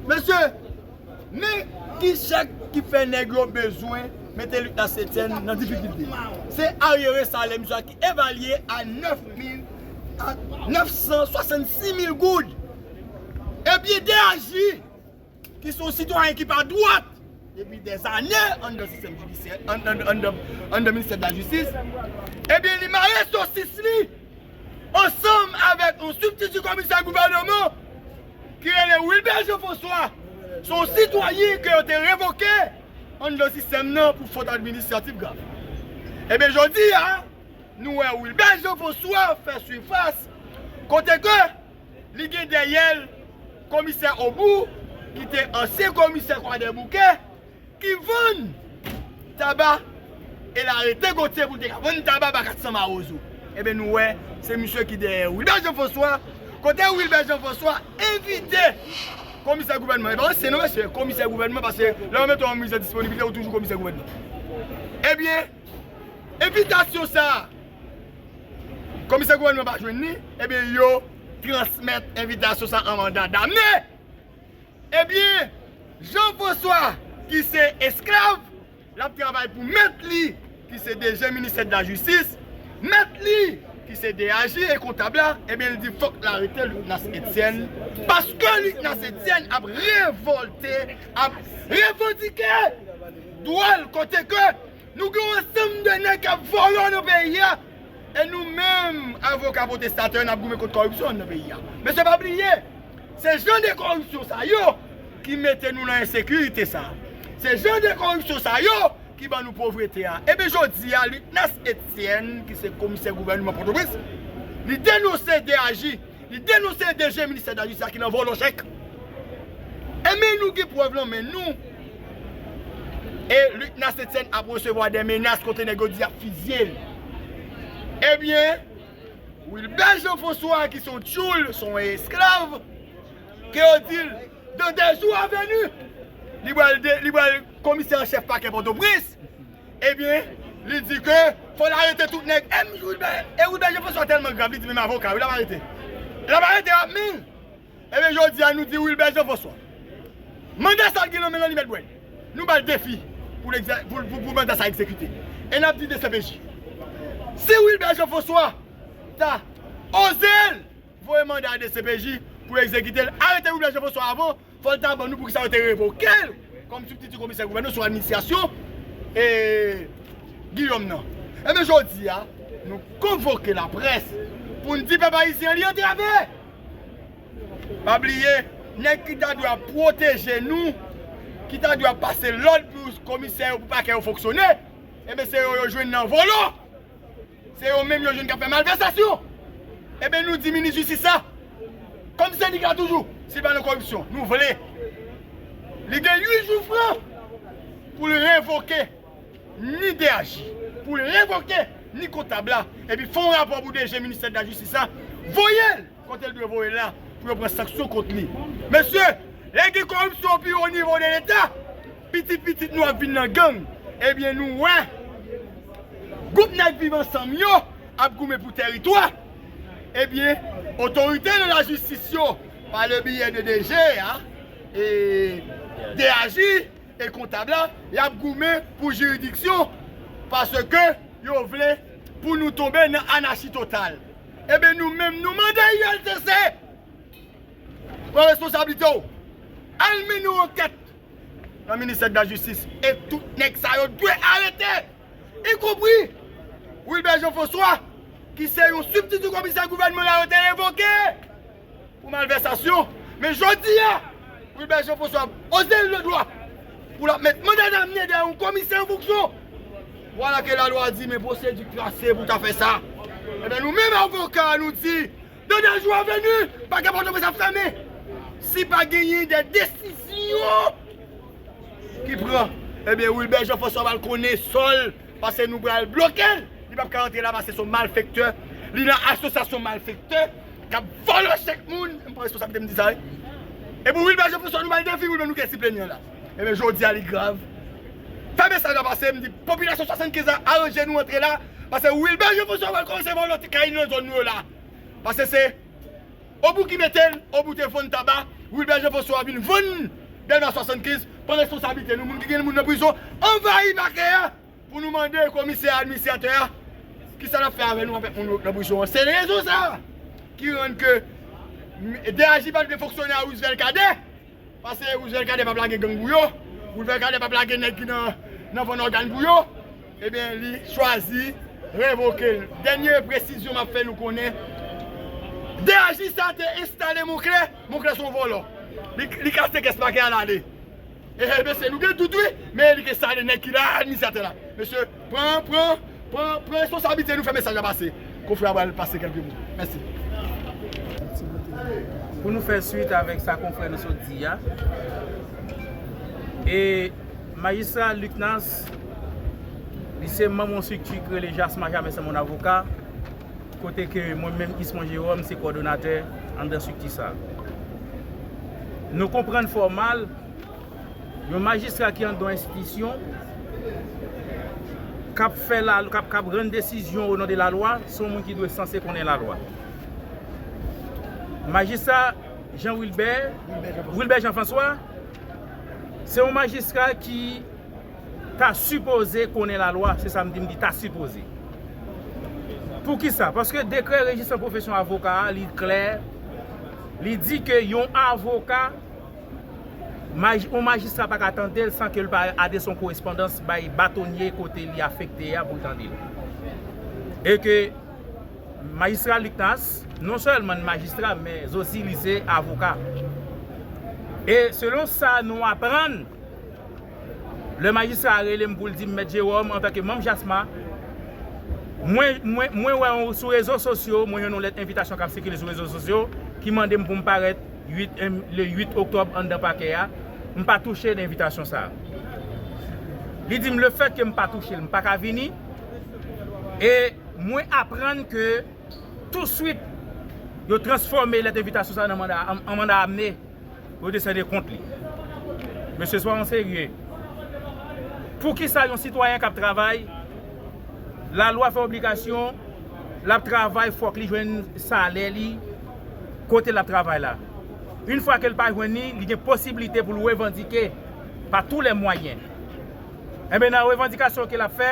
Mesye, men ki chèk ki fè nèg yo bezwen mete lit la setyèn nan difikilte. Se aryere salè misye a ki evalye a 9 mil a 966 mil goud. Epi DAJ, ki se yon sitwayen ki pa dwat depi dè zane anndan sistèm jidisyè, anndan ministè de la jistis, ebyen li mare sosis li ansanm avèk yon sibtiti komisè gouvèneman. ki rele Wilbert Jean François se yon sitwayen ke yo te revoke anndan sistèm nan pou fot administratif grav. Ebyen jodi a, nou wè Wilbert Jean François fè sifas kote ke li gen dèyè l Komisè Aubou ki te ansyen komisè Kwadèboukè, ki vann taba e l arete Gotye pou l te ka vann taba ba 400 mawozo. Enben nou wè se misye ki dèyè Wilbert Jean François, kote Wilbert Jean François envite komisè gouvènman, e pa ansyen non mesye, komisè gouvènman paske lè yo mete w an mize disponiblite ou toujou komisè gouvènman. Ebyen, envitasyon sa a komisè gouvènman pa jwenn li, ebyen yo transmèt envitasyon sa a an manda dame! Ebyen Jean François ki se esklav lap travay pou mèt li ki se DG ministè de la justice, mèt li ki se DAG e kontab la ebyen li di fòk arete Lucnas Etienne paske Lucnas Etienne ap revòlte ap revandike dwa l kote ke Nou gen yon ansanm de nèg k ap vòlò nan peyi a e nou menm avoka pwotestatè yo n ap goumen kont kòripsyon an nan peyi a. Mesye pa bliye, se jan de kòripsyon sa yo ki mete nou nan ensekirite sa a. Se jan de kòripsyon sa yo ki ban nou povrete a. Enben jodi a Lucnès Etienne ki se komisè gouvènman Pòtoprens, li denonse DAJ. Li denonse DG ministè dajis la ki nan vòlò chèk. E men nou gen prèv lan men nou. E Luc Nassetsen ap resevwa de menas kote nèg yo di yap fizye l. E byen Wilbert Jean François ki son tyoul, son esklav, ke yo di l dans 2 jours à venue li pral li pral komisè an chèf pakè Pòtoprens. Ebyen, li di ke fòl arete tout nèg M. Wilbert, e Wilbert Jean François tèlman grav li di menm avoka yo l ap arete. L ap arete yo ap min. Ebyen jodi a nou di Wilbert Jean François manda sa l gen nan men l an li mèt bwè l. Nou ba l defi pou l pou manda sa egzekite. E n ap di dcpj si Wilbert Jean François ta oze l. Voye manda a dcpj pou yo ekzekite l. Arete Wilber Jean François avan, fò l ta ban nou pou ki sa yo te revoke l kòm sibtiti komisè gouvènè sou administrasyon Guillaume nan. Ebyen jodi a, nou konvoke laprès pou n di pèp ayisyen an li antrave! Pa bliye, nèg ki ta dwe ap pwoteje nou, ki ta dwe ap pase lòd pou komisè yo, pou pakè yo fonksyone, ebyen se yo yo jwenn nan vòlò! Se yo menm yo jwenn kap fè malvèsasyon. Eben nou di minis jistis la, kòm sendik la toujou, si pa nan koripsyon, nou vle. Li gen 8 jou fran pou l revoke ni DAG, pou l revoke ni kontab la, epi fè yon rapò pou DG ministè de la jistis la voye l. Kote l dwe voye l la pou yo pran sanksyon kont li. Mesye, lè gen koripsyon o pi o nivo de leta, pitit pitit nou ap vin nan gang, ebyen nou wè gwoup nèg viv ansanm yo ap goumen pou tèritwa, ebyen otorite de la jistis yo pa le biyè de DG a, e DAJ e kontab la, y ap goumen pou jiridiksyon paske yo vle pou nou tonbe nan anachi total. Eben nou menm nou mande ULCC pran responsablite w al mennen yon ankèt nan ministè dela jistis e tout nèg sa yo dwe arete y konpri Wilbert Jean François ki se yon sibtiti komisè gouvènman la yo te revoke. pou malvèsasyon, men jodi a, Wilbert Jean François oze leve dwa pou l ap met manda damne dèyè yon komisè an fonksyon, vwala ke lalwa di men pwosedi klase pou ta fè sa. Enben nou menm avoka nou di, de de jou a venu, pakè Pòtoprens ap fèmen si pa genyen de desizyon ki pran. Enben Wilbert Jean François pral konnen sò l. Pase nou pral blokel li pap ka antre la pase son malfektè li nan asosyasyon malfektè kap vòlò chèk moun m pran responsabilite m di sa wi epou wilber jean François nou bay defi wilber nou kèsi plenyen la ebyen jodia li grav fè mesaj la pase m di popilasyon 75 la aranje nou antre la pase wilber jean François pral kòmanse vòlò ti kay nan zòn nou yo la pase se. Obou ki mete l, Obou te vann taba, Wilbert Jean François vin vann Dèlma 75, pran responsablite nou moun ki gen moun nan prizon anvayi pakè a pou nou mande komisè administratè a kisa lap fè avè nou avèk moun yo nan prizon an se rezon sa ki rann ke DAJ pat vle fonksyone a Roosevelt Cadet. Pase Roosevelt Cadet pap lage gang pou yo, Roosevelt Cadet pap lage nèg ki nan vann ògàn pou yo, ebyen li chwazi revoke l. Dènye presizyon m ap fè nou konnen, DAJ sa te enstale Monclè, Monclè se yon vòlò, li kase kès pakè a l ale. Mesye nou gen dout wi, men li te enstale nèg ki la, administratè la. Mesye. Pran pran pran pran responsabilite nou fè mesaj la pase kofre a pral pase kelke mo mèsi. Pou nou fè swit avèk sa konfrè nou sot di a e majistra Luc Nance li se manm yon strikti ki rele jasma jamè se mon avoka kote ke mwen menm Ismon Jerome se kòdonatè anndan strikti sa nou konprann fò mal Yon majistra ki andan yon enstitisyon, k ap fè la, k ap rann desizyon o non de la lwa, se yon moun ki dwe sanse konnen la lwa. Majistra Jean Wilbert, Wilbert Jean François, se yon majistra ki ta sipoze konnen la lwa, se sa m di, m di ta sipoze. Pou ki sa? Paske dekrè rejistran pwofesyon avoka a, li klè, li di ke yon avoka, yon majistra pa ka tande l san ke l pa adrese yon korespondans bay batonye kote li afekte a pou l tande l. E ke majistra Lucnas non sèlman li majistra men zosi li se avoka. E selon sa nou aprann, lè majistra a rele m pou l di m Mèt Jewòm antan ke manm JASMA, mwen wè yon sou rezo sosyo, mwen jwenn yon lèt envitasyon k ap sikile sou rezo sosyo ki mande m pou m parèt, le 8 oktòb anndan pakè a, m pa touche de envitasyon sa a. Li di m le fèt ke m pa touche l, m pa ka vini e mwen aprann ke touswit yo transfòme lèt envitasyon sa a nan manda an manda amne pou yo desène kont li. Mesye swa yon serye. Pou ki sa yon sitwayen k ap travay, lalwa fè obligasyon l ap travay fòk li jwenn salè li, kote l ap travay la. Yn fwa ke l pa jwenn li, li gen posiblite pou l revandike pa tou lè mwayen. Enben nan revandikasyon ke l ap fè,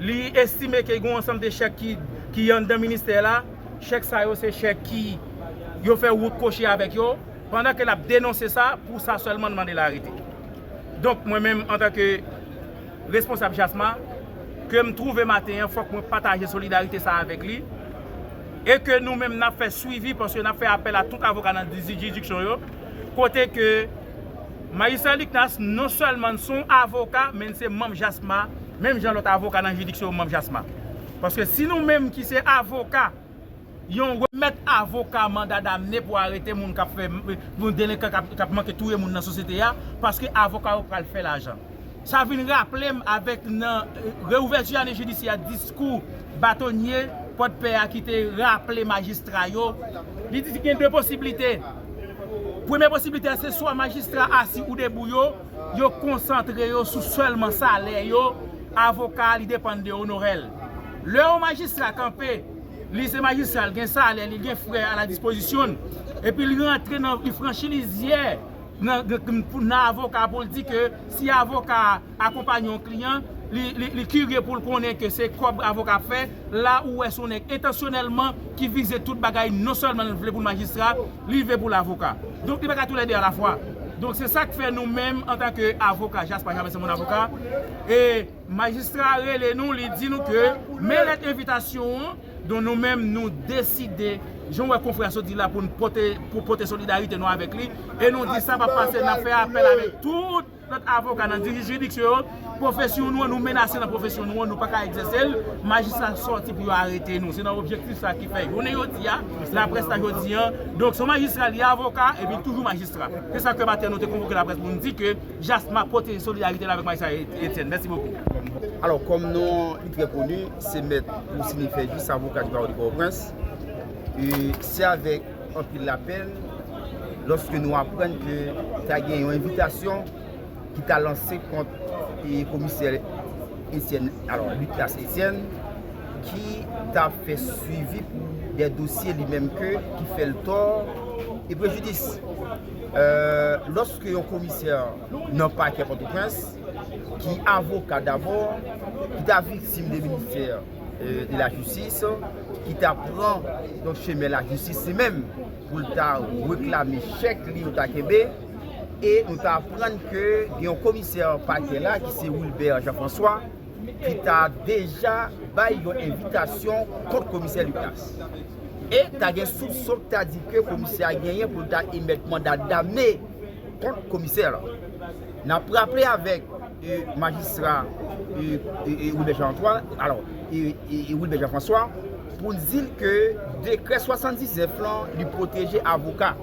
li estime ke gen yon ansanm de chèk ki anndan ministè la, chèk sa yo se chèk ki yo fè wout kwochi avèk yo, pandan ke l ap denonse sa, pou sa sèlman l mande l arete. Donk mwen menm antan ke responsab JASMA, ke m twouve maten an fòk mwen pataje solidarite sa avèk li, e ke nou menm nap fè swivi paske nap fè apèl a tout avoka nan jiridiksyon yo, kote ke Majistra Liknas non sèlman son avoka men li se manm JASMA menm jan lòt avoka nan jiridiksyon yo manm JASMA paske si nou menm ki se avoka yon remèt avoka manda damne pou arete moun kap fè yon delenkan kap manke touye moun nan sosyete a paske avoka yo pral fè lajan. Sa vin raple m avèk nan reouvèti ane jidisyè a diskou batonye Pòdpè a ki te raple majistra yo, li di gen 2 posiblite. Premye posiblite a se swa majistra asi ou debou yo, yo konsantre yo sou sèlman salè yo, avoka li depann de onorè l. Lè yon majistra kanpe, li se majistra l gen salè li, l gen frè a la dispozisyon l, epi li rantre nan li franchi lizyè. nan avoka pou l di ke si avoka a akonpanye yon kliyan, li kirye pou l konnen ke se kòb avoka ap fè, la ou wè se yon nèg entansyonèlman ki vize tout bagay non sèlman l vle pou l majistra, li vle pou l avoka. Donk li pa ka tou lè de alafwa. Donk se sa k fè nou menm antanke avoka, Jasper Jean Vincent Mon Avocat, majistra rele nou li di nou ke men lèt envitasyon an, Don nou menm nou deside, jan w wè konfrè a sot di la pou n pote, pou pote solidarite nou avèk li, e nou di sa pa p pase n ap fè apèl avèk tout lòt avoka nan jiridiksyon yo, pwofesyon nou an, nou menase nan pwofesyon nou an, nou pa ka egzèse l, majistra sòti pou yo arete nou. Se nan objektif sa ki fè jounen jodi a, laprès la jodi an, donk se yon majistra li avoka epi li toujou majistra. Se sa ke maten nou te konvoke laprès pou nou di ke. Jasma pote solidarite l avèk Maïssa Etienne. Mèsi bokou. Alò, kòm non an li trè koni, se mèt pou sinifye jis avoka di bawo de Pòtoprens, e se avèk anpil lapenn lòske nou aprann ke ta gen yon envitasyon ki ta lanse kont komisè Etienne, alò Lucas Etienne, ki ta fè swivi pou dè dosye li menm ke ki fè l tò e prejidis. Lòske yon komisè nan pakè Pòtoprens, ki avoka dabò, ki ta viktim de ministè de la jistis, ki ta pran yon chemen la jistis li menm, pou l ta reklame chèk li yo ta kenbe, e nou ta aprann ke yon komisè pakè la, ki se Wilbert Jean François, ki ta deja bay yon envitasyon kont Komisè Lucas. E ta gen soupson ki ta di ke Komisè a genyen pou l ta emèt manda dame kont Komisè la. N ap raple avèk Majistra Wilbert Jean Antoine, alò, Wilbert Jean François, pou n di l ke dekrè 79 lan li pwoteje avoka.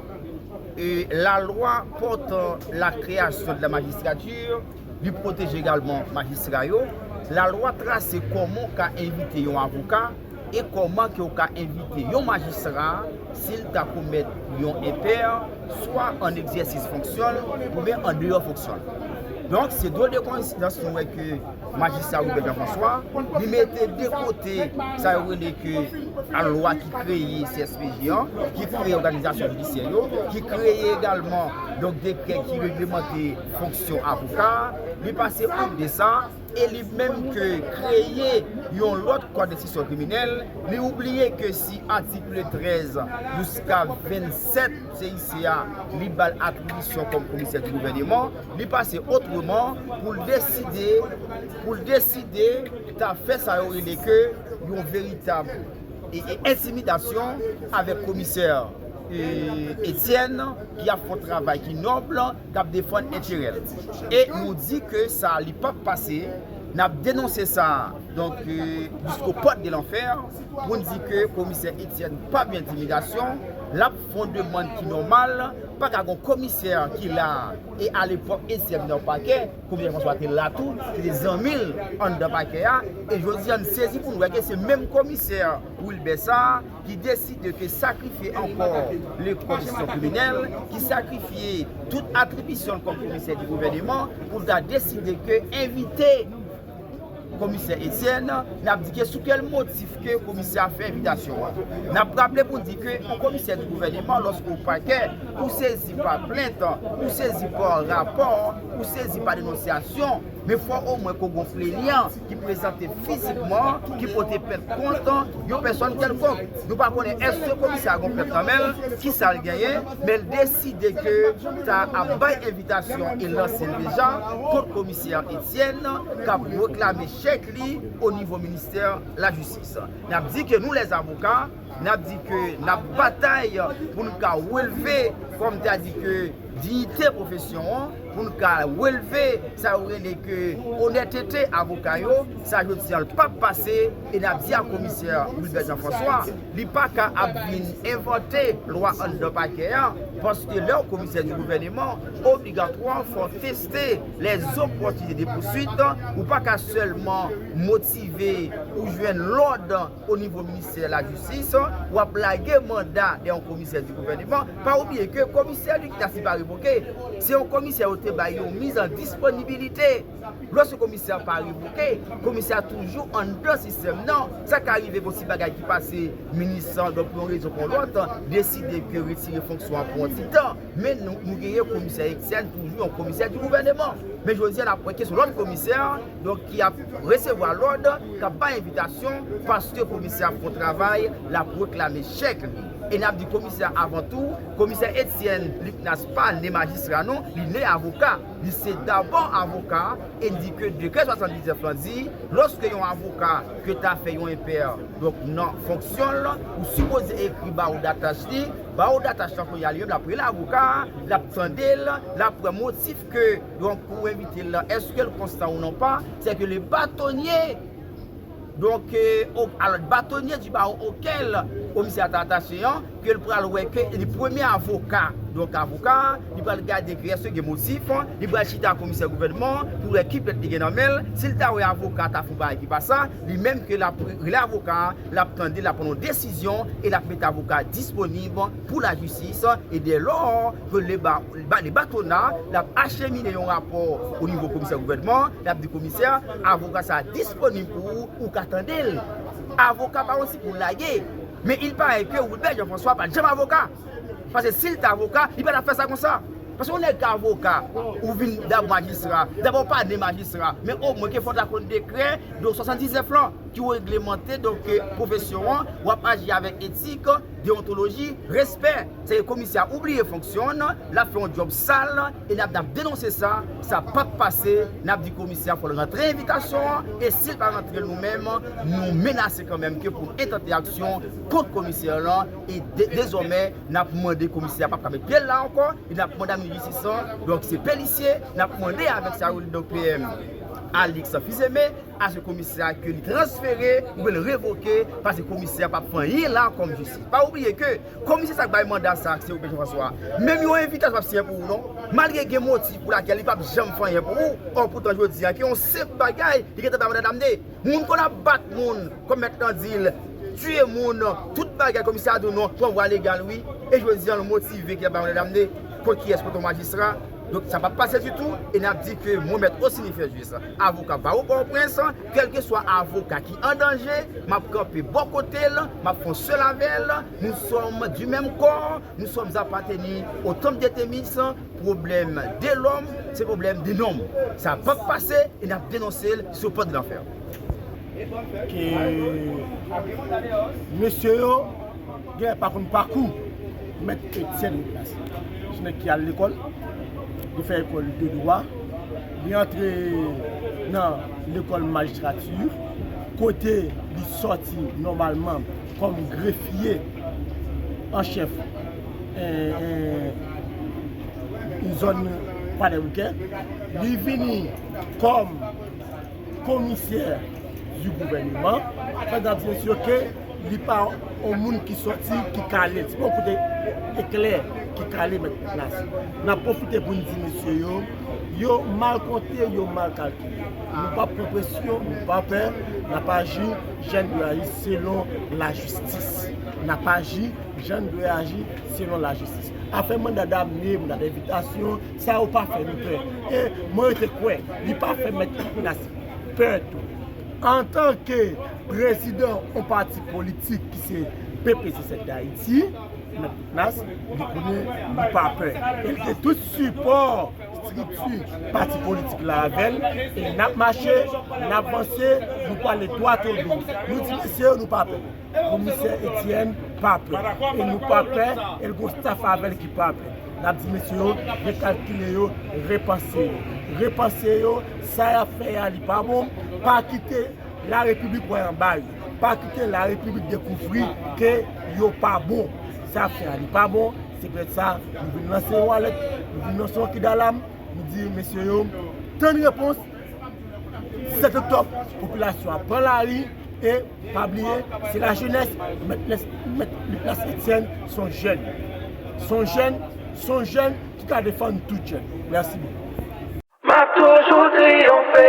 Lalwa pòtan la kreyasyon de la magistrature, Li pwoteje egalman majistra yo. Lalwa trase kòman w ka envite yon avoka e kòman ke w ka envite yon majistra si l ta komèt yon enpè, swa an egzèsis fonksyon l oubyen an deyò fonksyon l. Donk, se dwe de koensidans nou wè ke majistra Robert Jean François, li mete de kote sa yo rele ke lalwa ki kreye CSPJ an, ki kreye òganizasyon jidisyè yo, ki kreye egalman donk dekrè ki reglemante fonksyon avoka a, li pase out de sa, e li menm ke kreye yon lòt kòd enstriksyon kriminèl, li oubliye ke si atikle 13 jouska 27 CIC a li ba l atribisyon kòm komisè di gouvèneman, li pase otreman pou l deside, pou l deside ta fè sa yo rele ke yon veritab entimidasyon avèk komisè Etienne ki ap fon travay ki nòb. kap defann enterèl e nou di ke sa li pap pase nap denonse sa donk jisko pòt de lanfè poun di ke komisè Etienne pa byen entimidasyon lap fon demann ki nòmal paka gon komisè ki la e alepòk Etienne nan pakè komisè François te la tou ki te zanmil anndan pakè a e jodi an sezi poun wè ke se menm komisè Wilbert sa. ki deside te sakrifye ankò le kondisyon kriminèl, ki sakrifye tout atribisyon l kòm komisè di gouvèneman, pou l ta deside ke envite komisè Etyèn, n ap di ke sou kèl motif ke komisè a fè envitasyon an. N ap raple pou di ke yon komisè di gouvèneman lòske ou pakè, ou sezi pa plent, ou sezi pa rapò, ou sezi pa denonsyasyon, men fò omwen ke w gonfle li an. ki prezante fizikman, ki pote pèt kont yon pèsòn kèlkonk. Nou pa konnen èske komisè a gon pèt nan men l, ki sa l genyen, men l deside ke ta ap bay envitasyon e lanse l deja kont komisè Etienne k ap reklame chèk li onivo ministè lajistis. N ap di ke nou lèzavoka. nap di ke nap batay pou nou ka relve kòm ta di ke diyite pwofesyon an, pou nou ka relve sa yo rele ke onètete avoka yo, sa jodi an l pap pase e nap di a komisè Wilbert Jean François li pa ka ap vin envante lwa anndan pakè a paske lè w komisè di gouvèneman obligatwa fò w teste lèzopòtinite de pouswit ou pa ka sèlman motive ou jwenn lòd. O nivo ministè la jistis, w ap lage manda dè yon komisè di gouvèneman, pa oubliye ke komisè li ki ta sipa revoke, se yon komisè yo te bay yon miz an disponibilite. Lòske komisè an pa revoke, komisè a toujou anndan sistèm nan. Sa ka rive gen yon ti bagay ki pase, minis lan, donk pou yon rezon kon lòt, deside ke retire fonksyon an pou yon ti tan, men nou genyen komisè Etienne toujou yon komisè di gouvèneman. Men jodi a n ap wè ke se yon lòt komisè. Donk ki ap resevwa lòd, k ap bay envitasyon, paske komisè ap fè yon travay, l ap reklame chèk li. E n ap di komisè a avan tou, komisè Etyèn Liknas pa ne majistra non, li ne avoka. Li se dabò avoka, e n di ke dekrè 79 lan di, lòske yon avoka ke ta fè yon enpè, donk nan fonksyon l, ou sipoze ekri bawo datach li, bawo datach lan kounye a li menm l ap rele avoka a, l ap tande l, l ap pran motif Ke donk ou envite l la, eske l konstan ou non pa, se ke le batonye, donk ok, al batonye di bawo okel komisè a ta atache an, ke l pral wè ke li premye avoka, donk avoka a, li pral gade ke eske gen motif, li pral chita ak komisè gouvènman an, pou wè ki plent li gen nan men l, si l ta wè avoka a ta fè yon bagay ki pa sa, li menm ke l ap rele avoka a, l ap tande l, l ap pran yon desizyon, e l ap mete avoka a disponib. pou lajistis e dè lò ke le bale batona l ap achemine yon rapò o nivo komisè gouvènman l ap di komisè avoka sa a disponib pou ou ou ka tande l avoka pa yon ti pou lage men il pare ke Wilbert Jean François pa t janm avoka paske si l t avoka li pa t ap fè sa konsa paske yon nèg ki avoka ou vin dab majistra dabò pa de majistra men o mwen ke fò ta konn dekrè de 79 lan ki reglemante donk pwofesyon an w ap aji avèk etik deontoloji, respè. Se ke komisè a oubliye fonksyon l, l ap fè yon djòb sal e n ap denonse sa, sa p ap pase. N ap di komisè a fò l rantre envitasyon an e si l pa rantre l nou menm nou menase kanmenm ke pou n entante aksyon kont komisè lan e dezòmè n ap mande komisè a pa p ka met pye l la ankò e n ap mande a minis jistis lan donk se pelisye n ap mande avèk sa yo li donk PM Alix Fils-Aimé. Ajan komisè a ke li transfere ou byen revoke pase komisè a pa pran anyen la kòm jistis. Pa oubliye ke komisè sa k bay manda sa se ou byen Jean François. Menm yon envitasyon pap siyen pou ou non. Malgre gen motif pou lakèl li pap janm fè anyen pou ou. Ò poutan jodi a ke yon senp bagay li gentan bay manda damne. Moun konn ap bat moun kòm mèt lan di l tiye moun tout bagay komisè a di w non pran vwa legal wi e jodi an l motive ki ap bay manda damne. Kot kiyès? Kot yon majistra? Donk sa pap pase ditou e nap di ke mwen mèt Osini Ferjus avoka bawo Pòtoprens kèlkeswa avoka ki an danje map kanpe bò kotel map fon sèl avèl nou sòm di menm kò nou sòm apateni o tanp de temis pwoblèm de lòm se pwoblèm de nonm sa pap pase e nap denonsel sou pòt lanfè. Ke mesye yo. Gè pa konn pakou. Mèt Etienne Nicolas se nèg ki al lekòl, li fè ekòl de dwa, li antre nan lekòl majistrati kote li sòti nòmalman kòm grefye an chèf zòn Kwadèboukè. Li vini kòm. Commissaire du gouvernement mesdames et messieurs ke li pa yon moun ki soti ki kale se pa yon kote eklè ki kale met en place nap profite poun di mesye yo yo mal konte yo mal kalkile nou pap pran presyon nou pa pè nap aji jan nou dwe aji selon la justice nap aji jan nou dwe aji selon la justice afè manda damne manda devitasyon Sa yo pa fè nou pè. E mwen rete kwè li pa fè Mèt Lavalas pè tou. Antanke prezidan yon pati politik ki se PPCZ Dayiti, Mèt Lavalas, li konnen li pa pè. E li gen tout sipò estrikti pati politik la avè l. E n ap mache, n ap vanse, nou pale dwato do. Nou di mesye yo nou pa pè. komisè Etienne pa pè e nou pa pè e l gon staff avèl ki pa pè n ap di mesye yo rekalkile yo repanse yo repanse yo sa y ap fè a li pa bon pa kite la repiblik wè anba yo pa kite la repiblik dekouvri ke yo pa bon sa y ap fè a li pa bon se poutèt sa nou vin lanse yon alèt nou vin lanse yon kidalam nou di mesye yo tann repons 7 oktòb, popilasyon an pran lari e pa bliye se la jenès mèt Liplas Etyèn son jèn son jèn son jèn ki ka defann tout jèn mèsi bokou. Map toujou triyonfe.